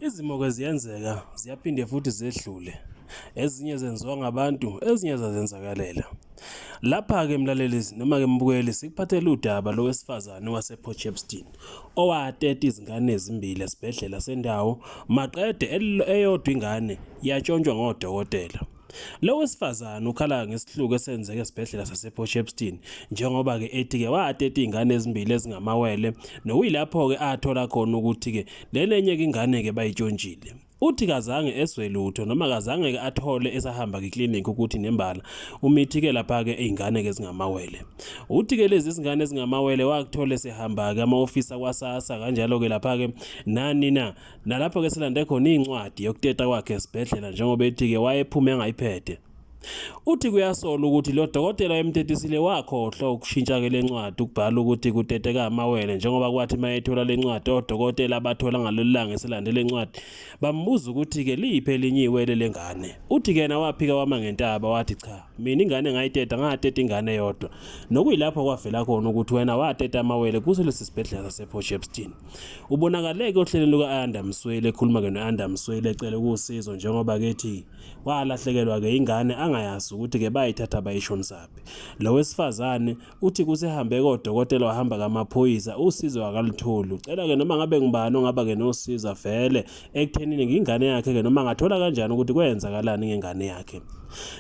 Izimo-ke ziyenzeka, ziyaphinde futhi zedlule. Ezinye zenziwa ngabantu, ezinye zazenzakalela. Lapha-ke mlaleli noma-ke mbukeli sikuphathela udaba lowesifazane waseport shepston owateta izingane ezimbili esibhedlela sendawo maqede eyodwa ingane yatshontshwa ngodokotela Lo wesifazane ukhala ngesihluku esenzeke esibhedlela sasePort Shepstone njengoba ke ethi ke wateta izingane ezimbili ezingamawele nokuyilapho ke athola khona ukuthi ke lenenye ke ingane ke bayitshontshile. Uthi kazange eswe lutho noma kazange ke athole esahamba kiclinic ukuthi nembala umithi ke lapha ke izingane ke zingamawele. Uthi ke lezi zingane ezingamawele wakuthola sehamba ke amaoffice kwaSASSA kanjalo ke lapha ke nani na Nalapho-ke silande khona incwadi yokuteta kwakhe esibhedlela njengoba ethi-ke wayephume engayiphethe. Uthi kuyasola ukuthi lo dokotela emtetisile wakhohlwa ukushintsha-ke le ncwadi ukubhala ukuthi kuteteka amawele njengoba kwathi uma ethola le ncwadi odokotela abathola ngalolu langa eselande le ncwadi bambuza ukuthi-ke liyiphi elinye iwele le ngane. Uthi-ke yena waphika wama ngentaba wathi cha mina ingane ngayiteta ngateta ingane yodwa nokuyilapho kwavela khona ukuthi wena wateta amawele kuso lesi sibhedlela sasePort Shepstone. Ubonakale-ke ohlelweni luka-Ayanda Msweli ekhuluma-ke no-Ayanda Msweli ecele ukuwusizo njengoba kethi walahlekelwa-ke ingane angayazi ukuthi-ke bayithatha bayishonisaphi. Lo wesifazane uthi kusehambe kodokotela wahamba kamaphoyisa usizo akalutholi. Ucela-ke noma ngabe ngubani ongaba-ke nosiza vele ekuthenini ngingane yakhe ke noma ngathola kanjani ukuthi kwenzakalani ngengane yakhe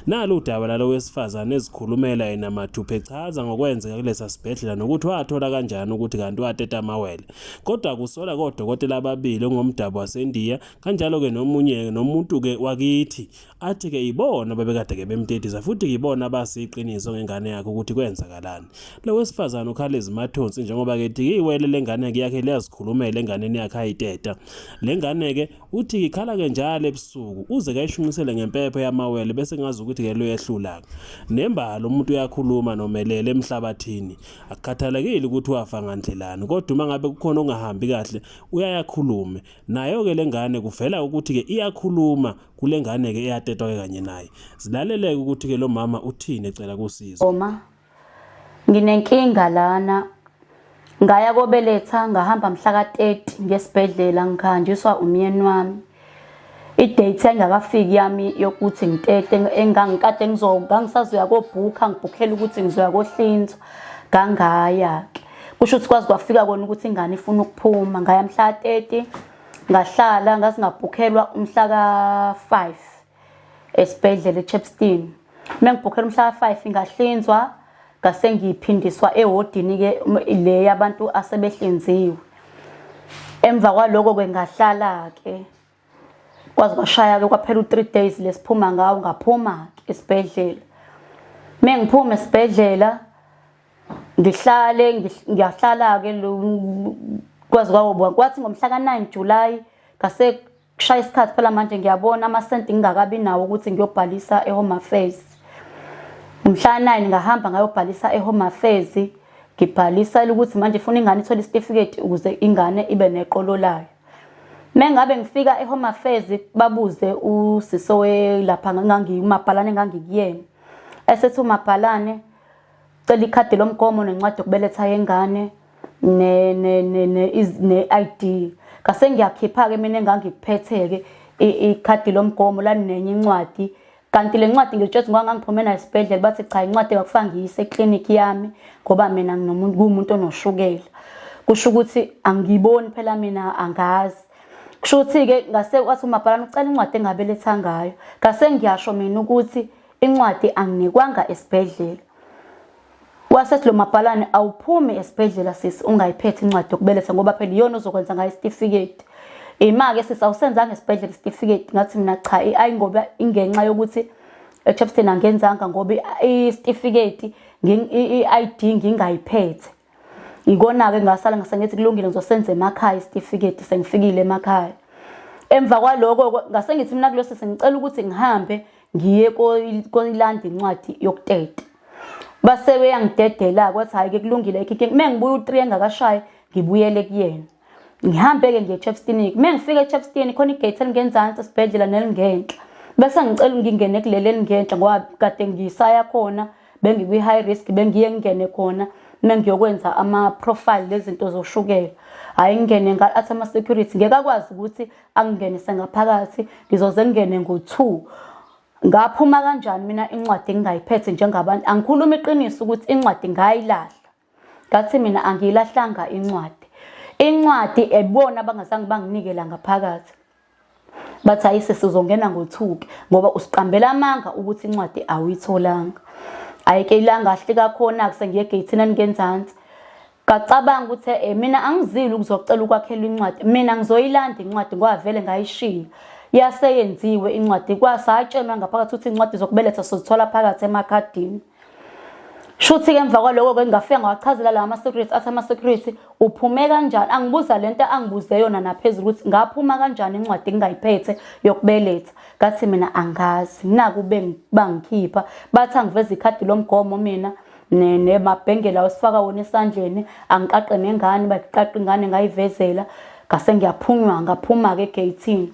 nalo udaba lalo wesifazane ezikhulumela yena mathuphe chaza ngokwenzeka kulesa sibhedlela nokuthi wathola kanjani ukuthi kanti wateta amawele kodwa kusola kodokotela ababili ongomdabu wasendiya kanjalo-ke nomunye nomuntu-ke wakithi athi ke yibona babekade ke bemdedisa futhi yibona abasi iqiniso ngengane yakhe ukuthi kwenzakalani lo wesifazane ukhala izimathonsi njengoba ke thi iwele lengane yakhe liyazikhulumela enganeni yakhe ayiteta lengane ke uthi ikhala ke njalo ebusuku uze kayishunqisele ngempepho yamawele bese ngazi ukuthi ke lo yehlula nembalo umuntu uyakhuluma nomelele emhlabathini akukhathalekile ukuthi wafa ngandlelani kodwa uma ngabe kukhona ongahambi kahle uyayakhulume nayo ke lengane kuvela ukuthi ke iyakhuluma kule ngane-ke eyatetwa-ke kanye naye zilaleleke ukuthi-ke lo mama uthini ecela kusizo oma nginenkinga lana ngaya kobeletha ngahamba mhla ka-30 ngesibhedlela ngihanjiswa umyeni wami idate engakafiki yami yokuthi ngitete engangikade ngizokangisazoya kobhukha ngibhukhela ukuthi ngizoya kohlinzwa ngangaya-ke kusho ukuthi kwazi kwafika kona ukuthi ingane ifuna ukuphuma ngaya mhla ka-30 ngahlala ngazingabhukhelwa umhla ka-5 esibhedlela echepstein uma ngibhukhela umhla ka-5 ngahlinzwa ngase ngiphindiswa ewodini-ke le yabantu asebehlinziwe emva kwaloko-ke ngahlala-ke kwaze kwashaya-ke kwaphela u-three days lesiphuma ngawo ngaphuma-ke esibhedlela uma ngiphuma esibhedlela ngihlale ngiyahlala-ke kwazi kwawo kwathi ngomhla ka-9 julayi ngase kushaya isikhathi phela manje ngiyabona amasenti ngingakabi nawo ukuthi ngiyobhalisa e-home affairs umhla nine ngahamba ngayobhalisa e-home affairs ngibhalisa ukuthi manje funa ingane ithole isitifiketi ukuze ingane ibe neqolo layo mengabe ngifika e-home affairs babuze usiso lapha ngangiyumabhalane ngangikuyena esethi umabhalane Cela ikhadi lomgomo nencwadi yokubeletha yengane ne-ID ngase ngiyakhipha-ke mina engangikuphethe-ke ikhadi lomgomo laninenye incwadi kanti le ncwadi ngilitshethe ngoba ngangiphume nayo esibhedlela bathi cha incwadi engakufanga ngiyise eklinikhi yami ngoba mina nginomuntu kuwumuntu onoshukela kusho ukuthi angiyiboni phela mina angazi kusho ukuthi-ke ngase wathi umabhalana ucela incwadi engabeletha ngayo ngase ngiyasho mina ukuthi incwadi anginikwanga esibhedlela wasethi lo mabhalane awuphumi esibhedlela sisi ungayiphethe incwadi yokubeletha ngoba phela iyona ozokwenza ngayo isitifiketi ima-ke sisi awusenzanga esibhedlela isitifiketi ngathi mina cha ayi ngoba ingenxa yokuthi echapston angenzanga ngoba isitifiketi i-id ngingayiphethe ngikona-ke ngasala ngasengithi kulungile ngizosenza emakhaya isitifiketi sengifikile emakhaya emva kwaloko ngasengithi mina kulosi sengicela ukuthi ngihambe ngiye kolanda incwadi yokuteta base beyangidedela kwathi hhayi-ke kulungile ekhike uma ngibuye u-three engakashayi ngibuyele kuyena ngihambe-ke ngiye echepstinic uma ngifike echepstini khona igate elingenzansi esibhedlela nelingenhla bese ngicela ngingene kuleli elingenhla ngoba kade ngisaya khona bengikwi-high risk bengiye ngingene khona uma ngiyokwenza ama-profile lezinto zoshukela hhayi ngingene athi ama-security ngeke akwazi ukuthi angingenise ngaphakathi ngizoze ngingene ngo-two ngaphuma kanjani mina incwadi engingayiphethe njengabantu angikhuluma iqiniso ukuthi incwadi ngayilahla ngathi mina angiyilahlanga incwadi incwadi ebona abangazange banginikela ngaphakathi bathi hayi sesizongena ngothuke ngoba usiqambela amanga ukuthi incwadi awuyitholanga ayike ilanga ahle kakhona kusengiye gate nani ngenzansi kacabanga ukuthi eh mina angizile ukuzocela ukwakhela incwadi mina ngizoyilanda incwadi ngoba vele ngayishiya yaseyenziwe incwadi kwasatshenwa ngaphakathi ukuthi incwadi zokubeletha sozithola phakathi emakhadini Shuthi-ke emva kwaloko-ke ngingafika ngawachazela lawa ama-security athi ama-security uphume kanjani angibuza le nto angibuze yona naphezulu ukuthi ngaphuma kanjani incwadi engingayiphethe yokubeletha ngathi mina angazi naku bangikhipha bathi angiveza ikhadi lomgomo mina nemabhengela osifaka wona esandleni angiqaqe nengane bayiqaqe ingane ngayivezela ngase ngiyaphunywa ngaphuma-ke egeyithini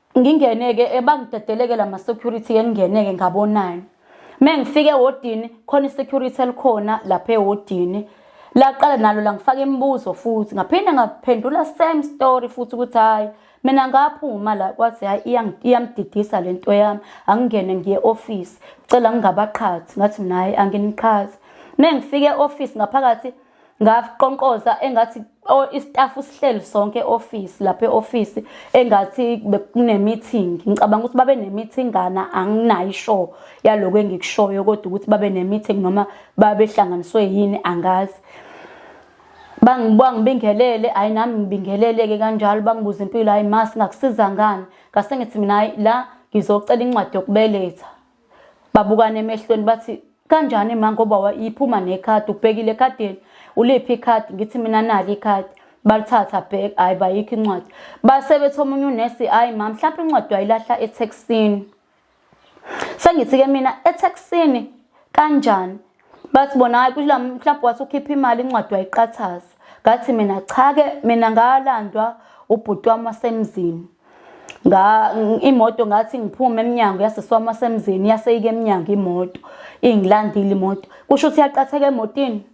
Ngingene-ke ebangidedeleke la ma-security engingene-ke ngabonani. Uma ngifika ewodini khona i-security elikhona lapha ewodini laqala nalo langifaka imibuzo futhi ngaphinde ngaphendula same story futhi ukuthi hhayi mina ngaphuma la kwathi hhayi iyamdidisa le nto yami angingene ngiye ofisi cela ngingabaqhathi ngathi mina hhayi anginiqhathi uma ngifike e-ofisi ngaphakathi ngakuqonqoza engathi istaff sihleli sonke office lapha eoffice engathi bekunemeeting ngicabanga ukuthi babe nemeeting ngana anginayo isho yaloko engikushoyo kodwa ukuthi babe nemeeting noma babehlanganiswe yini angazi bangibingelele hayi nami ngibingeleleke kanjalo bangibuza impilo hayi ma singakusiza ngani ngase ngithi mina hayi la ngizocela incwadi yokubeletha babukane emehlweni bathi kanjani ma ngoba wayiphuma nekhadi ubhekile ekhadini uliphi ikhadi ngithi mina nali ikhadi balithatha bhek hhayi bayikho incwadi base bethi omunye unesi hhayi ma mhlawumpe incwadi wayilahla ethekisini sengithi-ke mina ethekisini kanjani bathi bona hayi kula mhlawumbe wathi ukhipha imali incwadi wayiqathaza ngathi mina cha-ke mina ngalandwa ubhuti wami wasemzini imoto ngathi ngiphume emnyango yasisi wami wasemzini yaseyike emnyango imoto ingilandile imoto kusho ukuthi yaqatheka emotini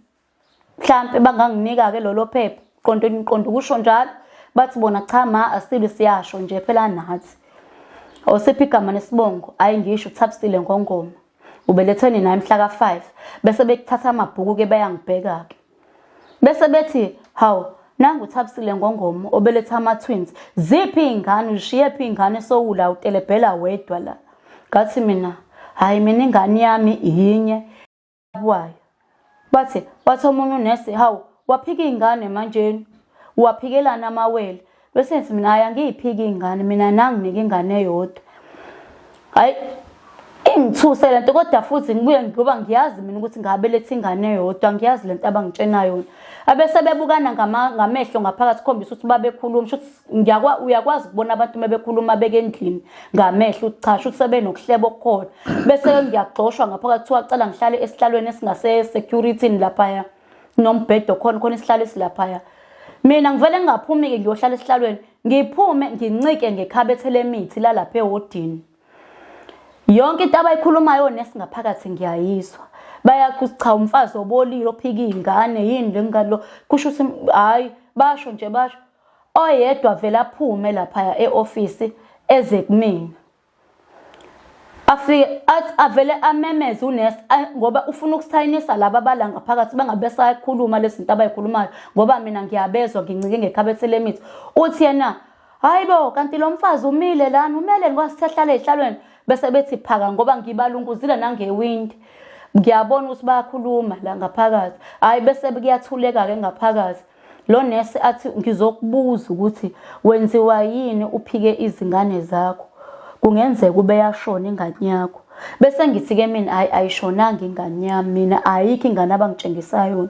mhlampe banganginika-ke lolo phepha qonto niqonda ukusho njalo bathi bona cha ma asili siyasho nje phela nathi osiphi igama nesibongo hhayi ngisho uthabisile ngongoma Ubelethwe nina emhla ka-5 bese bekuthatha amabhuku-ke bayangibheka-ke. Bese bethi, hawu, nangu uthabisile ngongomo obeletha ama-twins. Ziphi iy'ngane, uzishiyephi iy'ngane sowula utelebhela wedwa la. Ngathi mina, hhayi mina ingane yami yinye wayo. Bathi wathi omunye unesi hawu waphika ingane manjeni waphikelana amawele bese ngithi mina hayi angiyiphiki ingane mina nanginike ingane eyodwa hayi ingithuse lento kodwa futhi ngibuye ngoba ngiyazi mina ukuthi ngabeletha ingane eyodwa ngiyazi lento abangitshena yona abese bebukana ngamehlo ngaphakathi khombisa ukuthi babekhuluma ngiyakwa uyakwazi ukubona abantu uma bekhuluma beke endlini ngamehlo ukuthi cha shuthi sebenokuhleba okukhona bese ngiyagxoshwa ngaphakathi kuthiwa cela ngihlale esihlalweni esingase-security-ni laphaya nombhedo khona khona isihlalo esilaphaya mina ngivele ngingaphumi-ke ngiyohlala esihlalweni ngiphume ngincike ngekhabethe lemithi lalapha ewodini yonke into abayikhulumayo nesingaphakathi ngiyayizwa bayakuthi cha umfazi obolile ophika iy'ngane yini le ngane lo kusho ukuthi hhayi basho nje basho oyedwa vele aphume laphaya e-ofisi eze kumina afike athi avele amemeze unesi ngoba ufuna ukusayinisa laba abala ngaphakathi bangabe sayikhuluma lezi zinto abayikhulumayo ngoba mina ngiyabezwa ngincike ngekhabethe lemithi uthi yena hayi bo kanti lo mfazi umile lani umele ngikwasithahlala ey'hlalweni bese bethi phaka ngoba ngibalunguzile nangewindi ngiyabona ukuthi bayakhuluma la ngaphakathi hhayi bese kuyathuleka-ke ngaphakathi Lo nurse athi ngizokubuza ukuthi wenziwa yini uphike izingane zakho. Kungenzeka ubeyashona ingane yakho. Bese ngithi ke mina hayi ayishonanga ingane yami mina ayikho ingane abangitshengisa yona.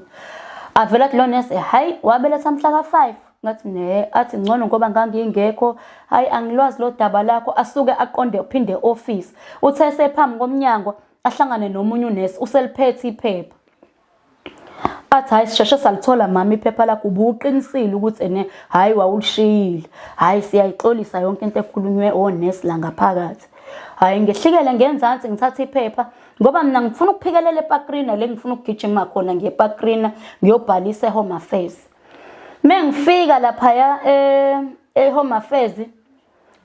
Avela athi lo nurse hayi wabeletha mhla ka-5 ngathi ne athi ngcono ngoba ngangingekho hayi angilwazi lo daba lakho asuke aqonde uphinde office uthe sephambi komnyango ahlangane nomunye unesi useliphethe iphepha athi hayi sisheshe salithola mama iphepha lakho ubuqinisile ukuthi ene hayi wawulishiyile hayi siyayixolisa yonke into ekhulunywe onesi la ngaphakathi hayi ngehlikele ngenzansi ngithatha iphepha ngoba mina ngifuna ukuphikelela epakrina le ngifuna ukugijima khona ngiye epakrina ngiyobhalisa ehome affairs me ngifika laphaya eh, ehome affairs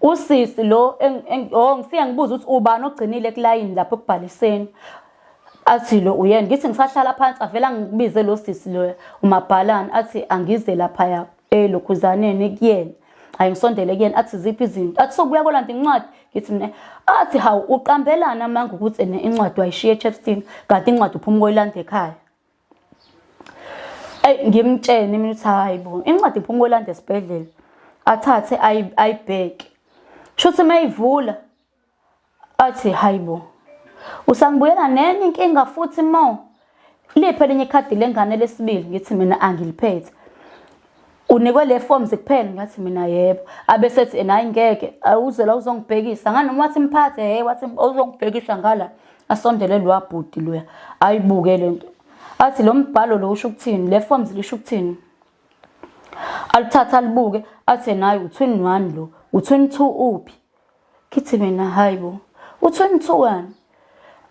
Usisi lo oh ngifike ngibuza ukuthi ubani ogcinile kulayini lapho ekubhaliseni. Athi lo uyena ngithi ngisahlala phansi avela ngikubize lo sisi lo umabhalani athi angize lapha ya elokhuzaneni kuyena. Hayi ngisondele kuyena athi ziphi izinto. Athi sokubuya kolanda incwadi ngithi mina athi hawu uqambelana manga ukuthi ene incwadi wayishiya eChepstein kanti incwadi uphuma koyilanda ekhaya. eyi ngimtshene mina ukuthi hhayi bo incwadi ngifuna ukolanda esibhedlela athathe ayibheke shuthi uma yivula athi hhayi bo usangibuyela nenye inkinga futhi mo liphi elinye ikhadi lengane lesibili ngithi mina angiliphethe unikwe le forms kuphela ngathi mina yebo abesethi nayi ngeke awuze la uzongibhekisa nganoma wathi mphathe hey wathi uzongibhekisa ngala asondele lo abhuti loya ayibuke lento athi lo mbhalo lo usho ukuthini le forms lisho ukuthini alithatha alibuke athi nayi u21 lo u22 uphi kithi mina hayibo uthi unithukani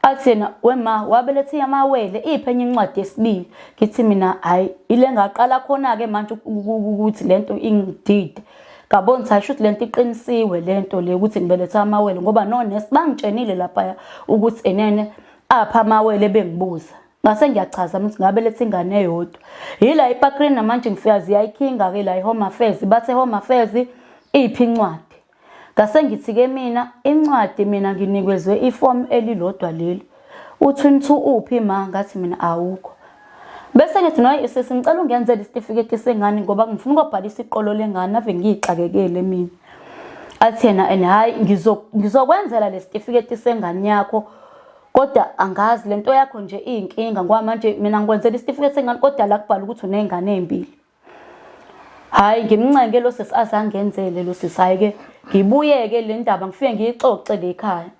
athi yena wema wabelethe yamawele iphe enye incwadi yesibili ngithi mina hayi ile ngaqala khona-ke manje ukuthi le nto ingidide ngabona ukuthi ayisho ukuthi le nto iqinisiwe le nto le ukuthi ngibelethe amawele ngoba nonesi bangitshenile laphaya ukuthi enene apha amawele bengibuza ngase ngiyachaza ukuthi ngabelethe ingane eyodwa yila ipakrini namanje ngifika ziyayikhinga-ke la i-home affairs bathe home affairs iphi incwadi Ngase ngithi ke mina incwadi mina nginikezwe ifomu elilodwa leli. Uthi unithu uphi ma ngathi mina awukho. Bese ngithi noyi sisi ngicela ungenzele isitifiketi sengane ngoba ngifuna ukobhalisa iqolo lengane ave ngiyixakekele mina. Athi yena and hayi ngizokwenzela lesitifiketi sengane yakho kodwa angazi lento yakho nje iyinkinga ngoba manje mina ngikwenzela isitifiketi sengane kodwa la kubhala ukuthi unezingane ezimbili. Hayi ngimncenge lo sisi azangenzele lo sisi hayi ke ngibuyeke le ndaba ngifike ngiyixoxe le ekhaya.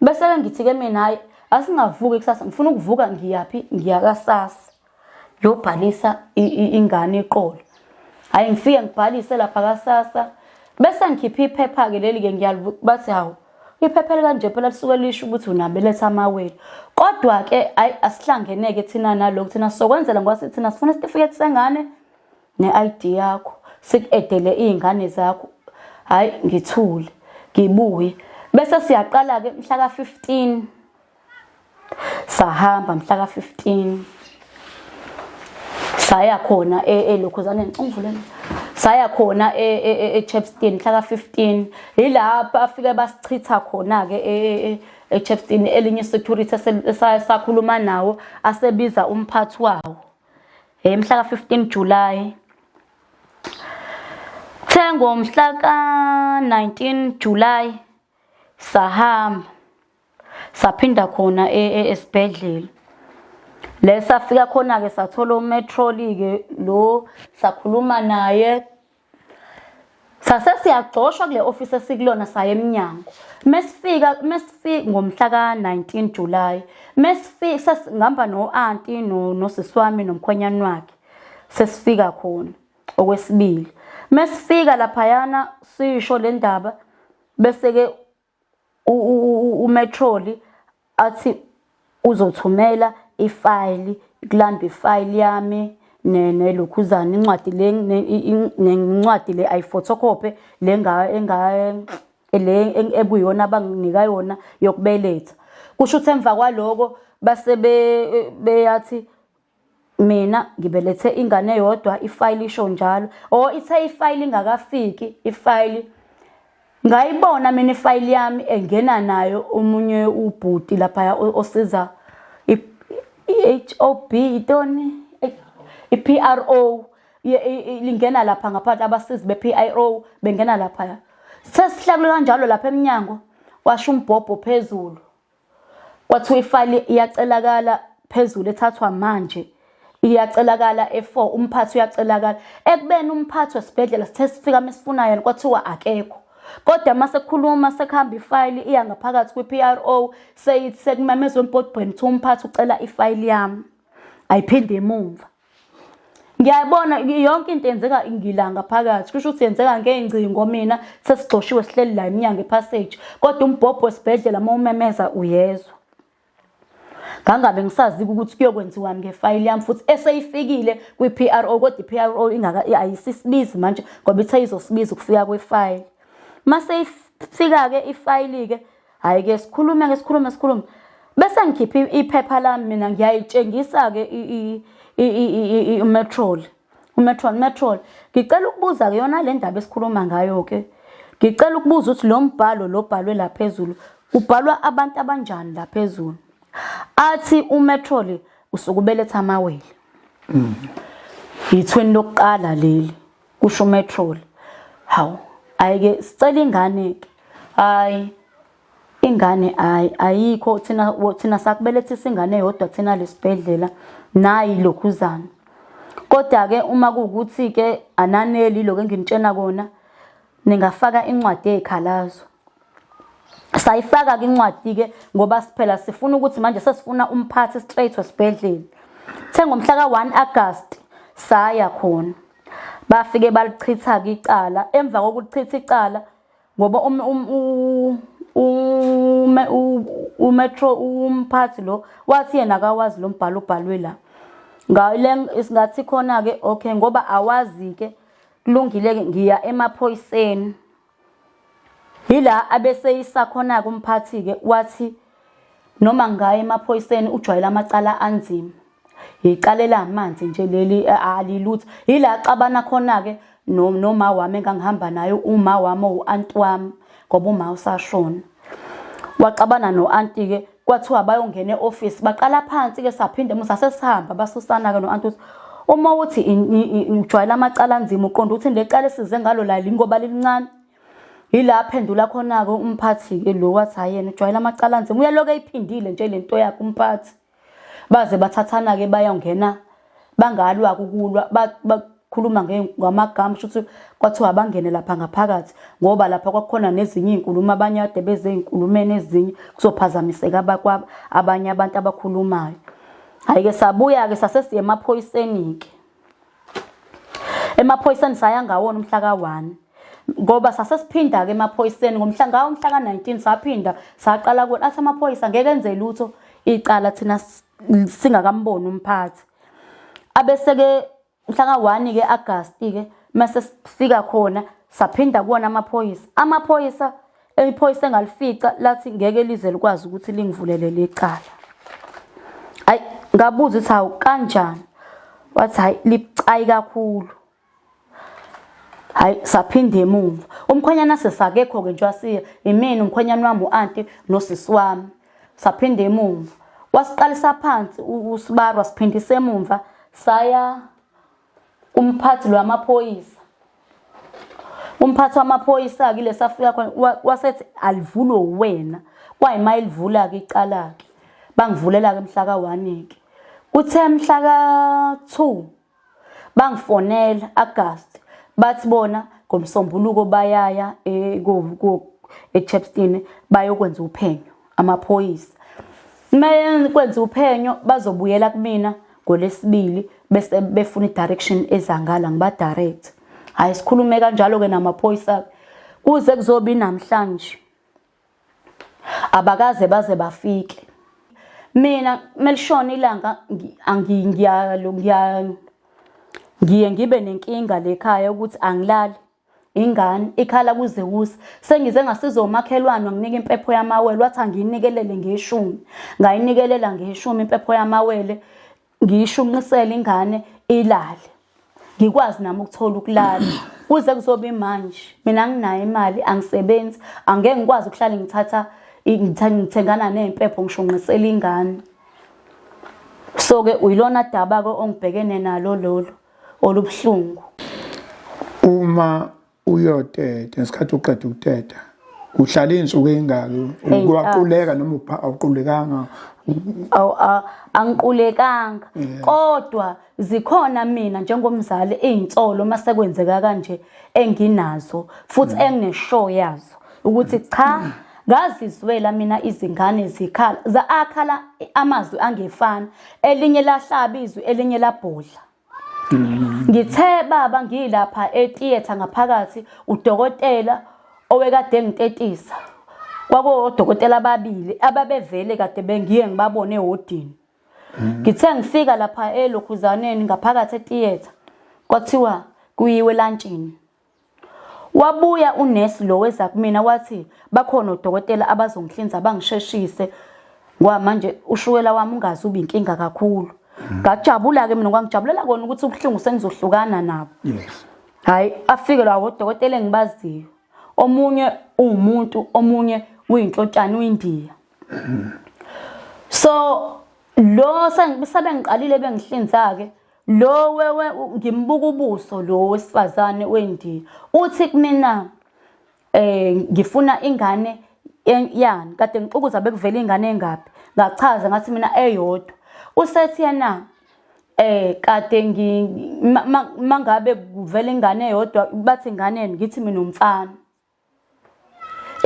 Bese ke ngithi ke mina hayi asingavuki kusasa ngifuna ukuvuka ngiyaphi ngiyakasasa. Yobhalisa ingane iqolo. Hayi ngifike ngibhalise lapha kasasa bese ngikhipha iphepha ke leli ke ngiyabathi hawu Iphepheli kanje phela lisuke lisho ukuthi unabeletha amawele. Kodwa ke ayi asihlangeneke thina nalokho thina sokwenzela ngoba sithi thina sifuna isitifiketi sengane ne-ID yakho siku-edele iy'ngane zakho hhayi ngithule ngibuye bese siyaqala-ke mhla ka-fifteen sahamba mhla ka-15 saya khona e, elokhuzaneni ungivulele saya khona e, e, echepston mhla ka-15 yilapho afike basichitha khona-ke echepston elinye isecurity esakhuluma nawo asebiza umphathi wawo um mhla ka-15 julayi Kuthe ngomhla ka-19 July sahamba saphinda khona e, e, esibhedlela le safika khona-ke sathola umetroli-ke lo sakhuluma naye sase siyagcoshwa kule ofisi esikulona saya emnyango mesifika mesifika ngomhla ka-19 July mesifika sesihamba no-anti nosisi wami nomkhwenyana wakhe sesifika khona okwesibili mesifika laphayana sisho le ndaba bese-ke umetroli athi uzothumela ifayili kulanda ifayili yami nelokhuzana incwadi le nencwadi le ayiphotocopy le le ekuyona abanginika yona yokubeletha kusho ukuthi emva kwaloko base beyathi mina ngibelethe ingane eyodwa ifayili isho njalo o oh, ithe ifayili ingakafiki ifayili ngayibona mina ifayili yami engena nayo omunye ubhuti lapha osiza i-HOB itoni i-PRO lingena lapha ngaphansi abasizi be-PIRO bengena lapha sesihlakule kanjalo lapha eminyango washo umbhobho phezulu Kwathiwa ifayili iyacelakala phezulu ethathwa manje iyacelakala e4 umphathi uyacelakala ekubeni umphathi wesibhedlela sithe sifika mesifuna yena kwathiwa akekho kodwa uma sekukhuluma sekuhamba ifayili iya ngaphakathi kwi-PRO seyithi sekumemezwa embodweni kuthiwa umphathi ucela ifayili yami ayiphinde emumva ngiyabona yonke into yenzeka ngilanga phakathi kusho ukuthi yenzeka ngey'ngcingo mina sesigxoshiwe sihleli la iminyango epassage kodwa umbhobho wesibhedlela uma umemeza uyezwa ngangabe ngisazi ukuthi kuyokwenziwani ngefayili yami futhi eseyifikile kwi-PRO kodwa i-PRO ingaka ayisisibizi manje ngoba ithe izosibiza ukufika kwefayili mase ifika-ke ifayili-ke hayi ke sikhulume ke sikhulume sikhulume bese ngikhipha iphepha lami mina ngiyayitshengisa ke umetrol umetrol metrol ngicela ukubuza ke yona le ndaba esikhuluma ngayo ke ngicela ukubuza ukuthi lo mbhalo lo bhalwe la phezulu kubhalwa abantu abanjani la phezulu athi umetrol usukubeletha amawele mm. yithweni lokuqala leli kusho umetrol hawu ayike sicela ingane ke hayi ingane hayi ayikho thina thina sakubelethisa ingane yodwa thina lesibhedlela nayi lokhuzana kodwa ke uma kuwukuthi ke ananeli lokho enginitshena kona ningafaka incwadi yezikhalazo sayifaka-ke incwadi-ke ngoba siphela sifuna ukuthi manje sesifuna umphathi straight wesibhedlela the ngomhla ka-1 agasti saya khona bafike balichitha-ke icala emva kokulichitha icala ngoba um, um, um, umetro umphathi lo wathi yena akawazi lo mbhalo ubhalwe la ngathi khona-ke okay ngoba awazi-ke kulungile-ke ngiya emaphoyiseni Yila abeseyisa khona-ke umphathi-ke wathi noma ngaye emaphoyiseni ujwayele amacala anzima. Yicala elamanzi nje leli alilutho. Yila axabana khona-ke noma wami engangihamba naye uma wami owu-anti wami ngoba uma usashona. Waxabana no-anti-ke kwathiwa bayongena e-office baqala phansi ke saphinde musa sesihamba basusana ke no-anti ukuthi uma uthi ujwayela amacala anzima uqonda ukuthi le cala esize ngalo lali ngoba lilincane yila aphendula khona-ke umphathi-ke lo wathi hhayi yena ujwayela amacala anzima uyaloke eyiphindile nje le nto yakhe umphathi baze bathathana-ke bayongena bangalwa kukulwa bakhuluma ngamagama kusho ukuthi kwathiwa abangene lapha ngaphakathi ngoba lapha kwakukhona nezinye iy'nkulumo abanye ade beze ey'nkulumeni ezinye kuzophazamiseka abakwabo abanye abantu abakhulumayo hhayi-ke sabuya-ke sase siye emaphoyiseni-ke emaphoyiseni saya ngawona umhla ka-one ngoba sase siphinda-ke emaphoyiseni ngomhla ngawo umhla ka-nineteen saphinda saqala kuwona athi amaphoyisa ngeke enze lutho icala thina singakamboni umphathi abeseke mhla ka-1 ke agasti ke mase sifika khona saphinda kuwona amaphoyisa amaphoyisa iphoyisa engalifica lathi ngeke lize likwazi ukuthi lingivulele lecala ayi ngabuza ukuthi hawu kanjani wathi hayi libucayi kakhulu hayi saphinde emuva umkhwenyana sesakekho-ke nje wasiya imina umkhwenyana wami u-anti nosisi wami saphinde emuva wasiqalisa phansi usibaru wasiphindisa emumva saya umphathi lwamaphoyisa umphathi wamaphoyisa kile safika khona wasethi alivulwe uwena kwayima elivula ke icala ke bangivulela ke mhla ka 1 ke kuthe mhla ka 2 bangifonela August bathi bona ngomsombuluko bayaya eh, eChepstone bayokwenza uphenyo amaphoyisa Maye kwenza uphenyo bazobuyela kumina ngolesibili bese befuna idirection ezangala ngiba direct. Hayi sikhulume kanjalo ke namaphoyisa kuze kuzobi namhlanje. abakaze baze bafike mina melishona ilanga ngiyalo ngiyalo ngiye ngibe nenkinga lekhaya ukuthi angilali ingane ikhala kuze kusa sengize ngasiza umakhelwane nginika impepho yamawele wathi angiyinikelele ngeshumi ngayinikelela ngeshumi impepho yamawele ngiyishunqisele ingane ilale ngikwazi nami ukuthola ukulala kuze kuzoba imanje mina nginayo imali angisebenzi angeke ngikwazi ukuhlale ngithatha ngithengana ney'mpepho ngishunqisela ingane so-ke uyilona daba-ke ongibhekene nalo lolo olubuhlungu uma uyoteta ngesikhathi uqeda ukuteta uhlala iy'nsuku ey'ngaki kwaquleka ah. noma awuqulekanga angiqulekanga kodwa zikhona mina njengomzali iy'nsolo uma sekwenzeka kanje enginazo futhi mm. enginesho yazo ukuthi cha ngazizwela mina izingane zikhala akhala amazwi angefani elinye lahlaba izwi elinye labhodla Ngithe baba ngilapha etheater ngaphakathi udokotela owekade engitetisa. Kwakuwodokotela ababili ababevele kade bengiye ngibabone ehodini. Ngithe ngifika lapha elokhuzaneni ngaphakathi etheater kwathiwa kuyiwe lantshini. Wabuya unesi lo weza kumina wathi bakhona odokotela abazongihlinza bangisheshise ngoba manje ushukela wami ungazi uba inkinga kakhulu ngajabula-ke mina kwangijabulela kona ukuthi ubuhlungu sengizohlukana nabo hhayi afike lawa odokotela engibaziyo omunye uwumuntu omunye uyinhlotshana uyindiya so lo sebengiqalile bengihlinza-ke Lo wewe ngimbuka ubuso lo wesifazane wendiya. Uthi kumina eh ngifuna ingane yani kade ngixukuza bekuvela ingane engaphi. Ngachaza ngathi mina eyodwa. Usethi yena eh kade ngi mangabe kuvela ingane eyodwa bathi ingane ngithi mina umfana.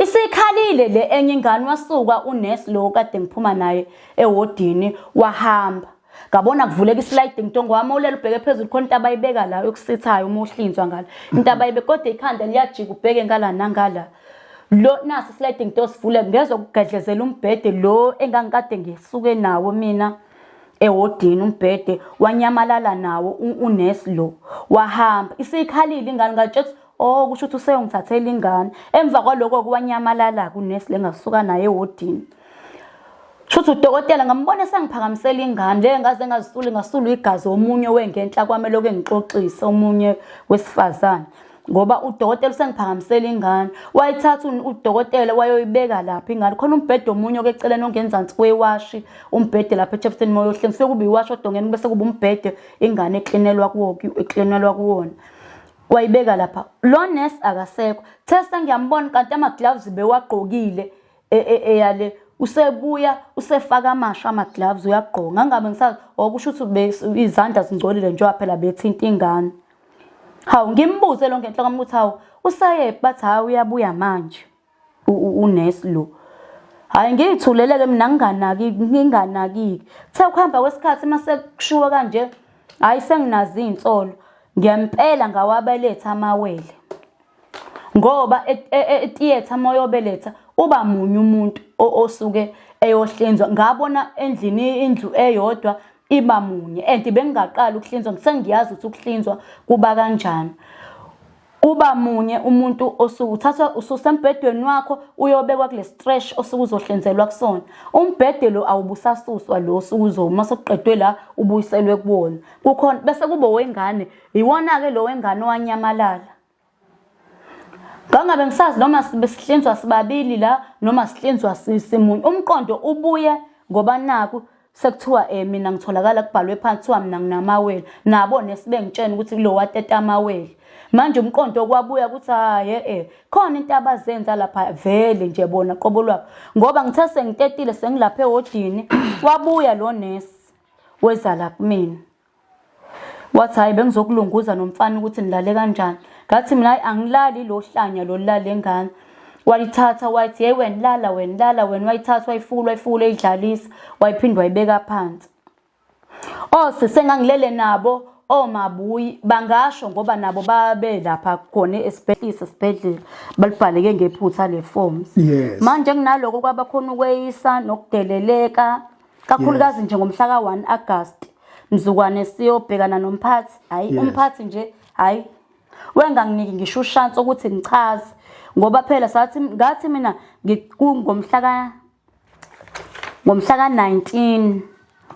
Isikhalile le enye ingane wasuka unesi lo kade ngiphuma naye ewodini wahamba. Ngabona kuvuleka islide ngitongo wami olele ubheke phezulu khona into abayibeka la yokusithayo uma uhlinzwa ngala. Into abayibe kodwa ikhanda liyajika ubheke ngala nangala. Lo nasi slide ngito sivule ngezwe kugedlezela umbhede lo engangikade ngisuke nawo mina ewodini umbhede wanyamalala nawo unesi lo wahamba isikhalile ingane ngatshela Oh kusho ukuthi useyongithathela ingane. Emva kwaloko kuwanyamalala kunesi lengasuka naye ewodini. Shuthi udokotela ngambona sengiphakamisela ingane le ngaze ngazisuli ngasulu igazi omunye wengenhla kwami lokho engixoxisa omunye wesifazane ngoba udokotela usengiphakamisela ingane wayithatha udokotela wayoyibeka lapha ingane khona umbhede omunye okeceleni ongenzansi kwewashi umbhede lapha echapsini moyo hlengiswe kube iwashi odongeni bese kube umbhede ingane eklinelwa kuwo eklinelwa kuwona wayibeka lapha lo nurse akasekho testa ngiyambona kanti ama gloves bewagqokile e, e, eyale usebuya usefaka amasha ama gloves uyagqoka ngangabe ngisazi okusho oh, ukuthi izandla zingcolile njengoba phela bethinta ingane hawu ngimbuze lo ngenhla kwami ukuthi hawu usayephi bathi hawu uyabuya manje unesi lo hhayi ngiyithulele-ke mina nginganaki nginganakike kuthe ukuhamba kwesikhathi uma sekushiwo kanje hhayi senginazo iy'nsolo ngempela ngawabeletha amawele ngoba etiyetha e, e, uma uyobeletha uba munye umuntu osuke eyohlinzwa ngabona endlini indlu eyodwa iba munye and bengingaqala ukuhlinzwa sengiyazi ukuthi ukuhlinzwa kuba kanjani kuba munye umuntu osuke uthathwa ususembhedweni wakho uyobekwa kule stretch osuke uzohlinzelwa kusona umbhede lo awubusasuswa lo osuke uzoma sokuqedwe la ubuyiselwe kuwona kukhona bese kubo wengane yiwona-ke lo wengane owanyamalala ngangabe ngisazi noma besihlinzwa sibabili la noma sihlinzwa simunye umqondo ubuye ngoba naku sekuthiwa um mina ngitholakala kubhalwe phansi kuthiwa mina nginamawele nabo nesibengitshena ukuthi kulo wateta amawele manje umqondo okwabuya ukuthi hayi e-e khona into abazenza lapha vele nje bona qobo lwabo ngoba ngithe sengitetile sengilapha ewodini wabuya lo nesi weza la kumina wathi hhayi bengizokulunguza nomfana ukuthi nilale kanjani ngathi mina hayi angilali lo hlanya lolulale ngane wayithatha wayithi yeyi wena lala wena lala wena wayithatha wayifukula wayifukula eyidlalisa wayiphinde wayibeka phansi ose oh, sengangilele nabo omabuyi oh, bangasho ngoba nabo babe lapha khona esibhedlela esibhedlela balibhaleke ngephutha le forms manje kunaloko kwabakhona ukweyisa nokudeleleka kakhulukazi nje ngomhla ka-1 agasti mzukwane siyobhekana nomphathi hhayi umphathi nje hhayi wenganginiki ngisho ushansi ukuthi ngichaze ngoba phela sathi ngathi mina ngomhlaka ngomhla ka-19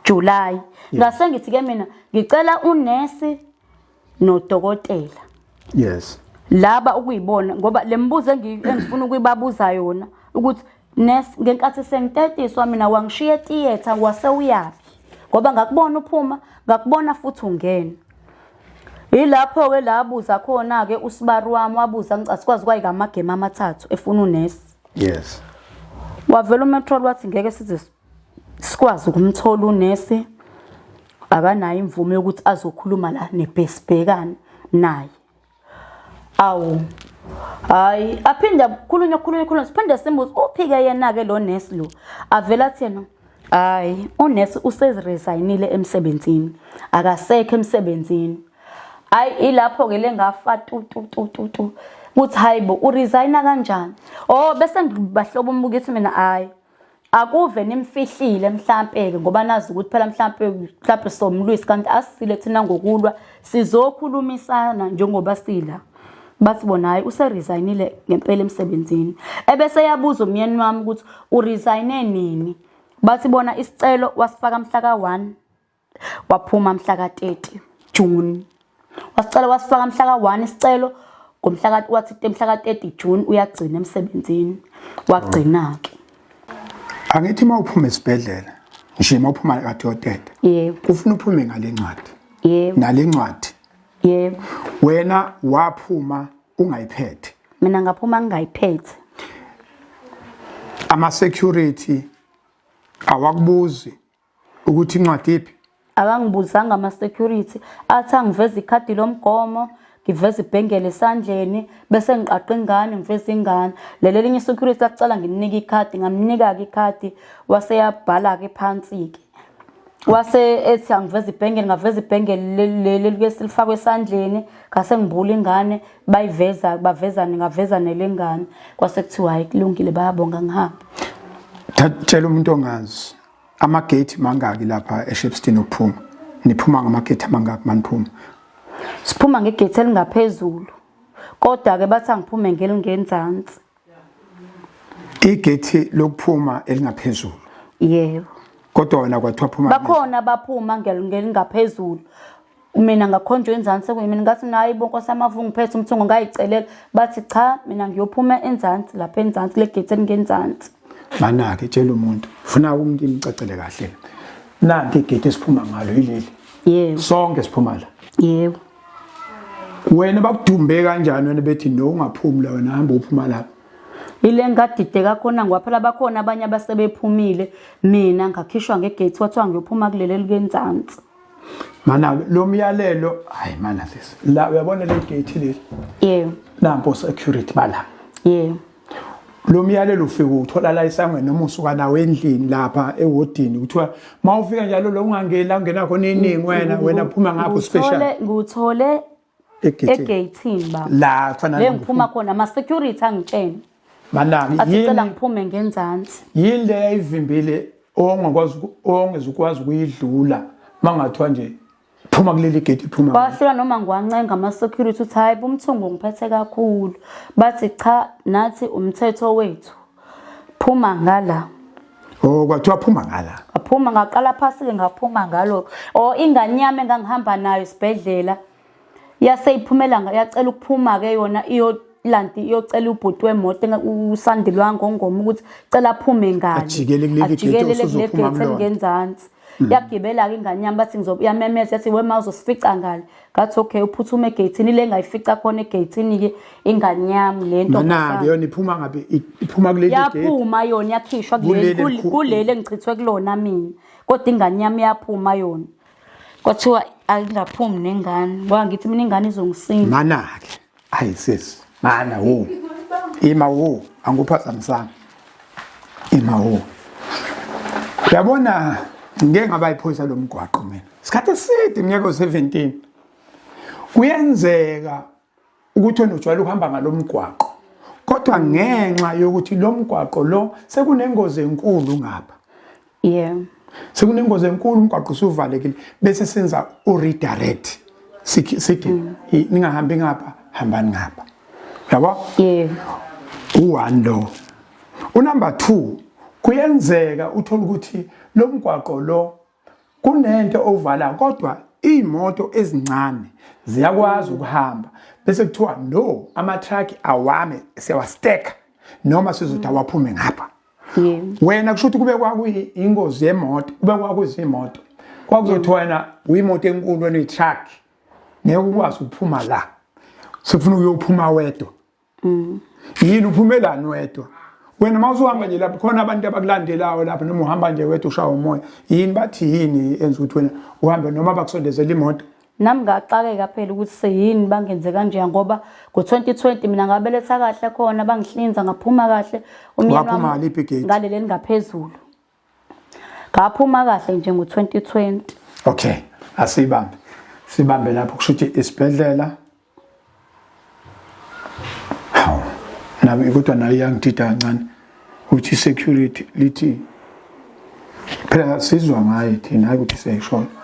July ngase ngithi ke mina ngicela unesi nodokotela yes laba ukuyibona ngoba lembuzo engifuna ukuyibabuza yona ukuthi nurse ngenkathi sengitetiswa mina wangishiya theater wase uyaphi ngoba ngakubona uphuma ngakubona futhi ungena yilapho ke la buza khona ke usibaru wami wabuza ngicela sikwazi kwayika amagame amathathu efuna unesi yes wavela umetrol wathi ngeke size sikwazi ukumthola unesi akanayo imvume yokuthi azokhuluma la nebhesibhekane naye awu hayi aphinde akhulunywe khulunywe khulunywe siphinde simbuze uphi-ke yena-ke lo nesi lo avele athi yena hayi unesi useziresayinile emsebenzini akasekho emsebenzini hayi ilapho-ke le ngafa tu tu tu tu tu ukuthi hayi bo uresayina kanjani o oh, bese ngibahlobo umbukithi mina hhayi akuve nimfihlile mhlampe-ke ngoba nazi ukuthi phela mhlampe mhlampe somlwisi kanti asisile thina ngokulwa sizokhulumisana njengoba sila bathi bona hhayi useresignile ngempela emsebenzini ebese yabuza umyeni wami ukuthi uresigne nini bathi bona isicelo wasifaka mhla ka-one Waphuma mhla ka-30 June. Wasicela wasifaka mhla ka-1 isicelo ngomhla wathi mhla ka-30 June uyagcina emsebenzini. Wagcina-ke. Angithi uma uphuma esibhedlela nje uma uphuma kathi yoteta. Yebo. Ufuna uphume ngale ncwadi. Yebo. Nale ncwadi. Yebo. Wena waphuma ungayiphethe. Mina ngaphuma ngingayiphethe. Ama security awakubuzi ukuthi incwadi iphi akangibuzanga ama-security athi angiveze ikhadi lomgomo ngiveze ibhengele esandleni bese ngiqaqa ingane ngiveze ingane lelo linye i-security lakucala ngininike ikhadi ngamnika-ke ikhadi waseyabhala-ke phansi-ke wase ethi angiveze ibhengele ngaveza ibhengele leli lifakwe esandleni ngase ngibula ingane bayiveza bavezane ngaveza nelengane kwase kuthiwa hayi kulungile bayabonga ngihamba thatshela umuntu ongazi amagate mangaki lapha eShepstone ukuphuma niphuma ngamagate amangaki maniphuma siphuma ngegate elingaphezulu kodwa ke bathi angiphume ngelingenzansi igate lokuphuma elingaphezulu yebo kodwa wena kwathiwa phuma bakhona baphuma ngelingaphezulu mina ngakhonjwa enzansi sekuyimini ngathi nayi bo nkosi yami avungiphethe umthungo ngayicelela bathi cha mina ngiyophuma enzansi lapha enzansi le gate elingenzansi mana-ke tshela umuntu funa umuntu imcacele kahle nanti igate esiphuma ngalo yileli yebo sonke siphuma la yebo wena bakudumbe kanjani wena bethi no ungaphumi la wena hamba uphuma lapha ile ngadide kakhona ngoba phela bakhona abanye abasebephumile mina ngakhishwa ngegate kwathiwa ngiyophuma kuleli elikenzansi mana lo myalelo hayi mana sisi la uyabona le gate leli yebo nampo security bala yebo lo myalelo ufike uthola la isangweni noma usuka nawo endlini lapha ewodini kuthiwa uma ufika njalo lo ungangeni la ungena khona iningi wena wena phuma ngapho special ngithole egeyithini baba la kufanele le ngiphuma khona ama security angitshene manaki athi cela ngiphume ngenzansi yini le yayivimbile ongakwazi ongezukwazi ukuyidlula mangathiwa nje phuma kuleli gate phuma bahlula noma ngiwancenga ama security uthi hayi bumthungu ngiphethe kakhulu bathi cha nathi umthetho wethu phuma ngala Oh kwathiwa phuma ngala. Aphuma ngaqala phasi ke ngaphuma ngalo. Oh ingane yami engangihamba nayo isibhedlela. Yase iphumela yacela ukuphuma ke yona iyo lanti iyocela ubhuti wemoto usandilwa ngongoma ukuthi cela aphume ngani. Ajikele kuleli gate osuzophume ngenzansi. Mm. yagibela-ke ingane yami bathi yamemeza yathi wema uzosifica ngale ngathi okay uphuthume egeyithini le ngayifica khona egeyithini-ke ingane yami le ntonake yona iphuma ngabe iphuma kuleli yaphuma yona yakhishwa kuleli engichithwe kulona mina kodwa ingane yami yaphuma yona kwathiwa angingaphumi nengane ngoba ngithi mina ingane izongisinda manake Hayi sis, mana wo. Ima wo, angiphazamisanga. Ima wo. Uyabona ngeke ngaba iphoyisa lomgwaqo mina. Isikhathi eside iminyaka 17. Kuyenzeka ukuthi onojwayele ukuhamba ngalomgwaqo. Kodwa ngenxa yokuthi lomgwaqo lo sekunengozi enkulu ngapha. yeah sekunengozi enkulu umgwaqo usuvalekile bese senza uredirect sithi mm. ningahambi ngapha hambani ngapha yabo yeah u1 lo unumber 2 kuyenzeka uthola ukuthi lo mgwaqo lo kunento ovala kodwa imoto ezincane ziyakwazi ukuhamba bese kuthiwa no ama truck awame siyawa stack noma sizothi awaphume ngapha wena kusho ukuthi kube kwakuyingozi yemoto kube kwakuzimoto kwakuzothi wena uyimoto enkulu wena uyitruck ngeke ukwazi ukuphuma la sefuna uyophuma wedwa mm. yini uphumelani wedwa wena uma usuhamba nje lapho khona abantu abakulandelayo lapho noma uhamba nje wedwa ushaya umoya yini bathi yini enza ukuthi wena uhambe noma bakusondezela imoto nami ngaxakeka phela ukuthi seyini bangenze kanjeya ngoba ngo-2020 mina ngabeletha kahle khona bangihlinza ngaphuma kahle umnyanongaleli elingaphezulu ngaphuma kahle nje ngo-2020 okay asiyibambe sibambe lapho kusho ukuthi isibhedlela hawu nami kodwa nayo iyangidida kancane ukuthi i-security lithi phela sizwa ngayo thina hayi ukuthi siyayishona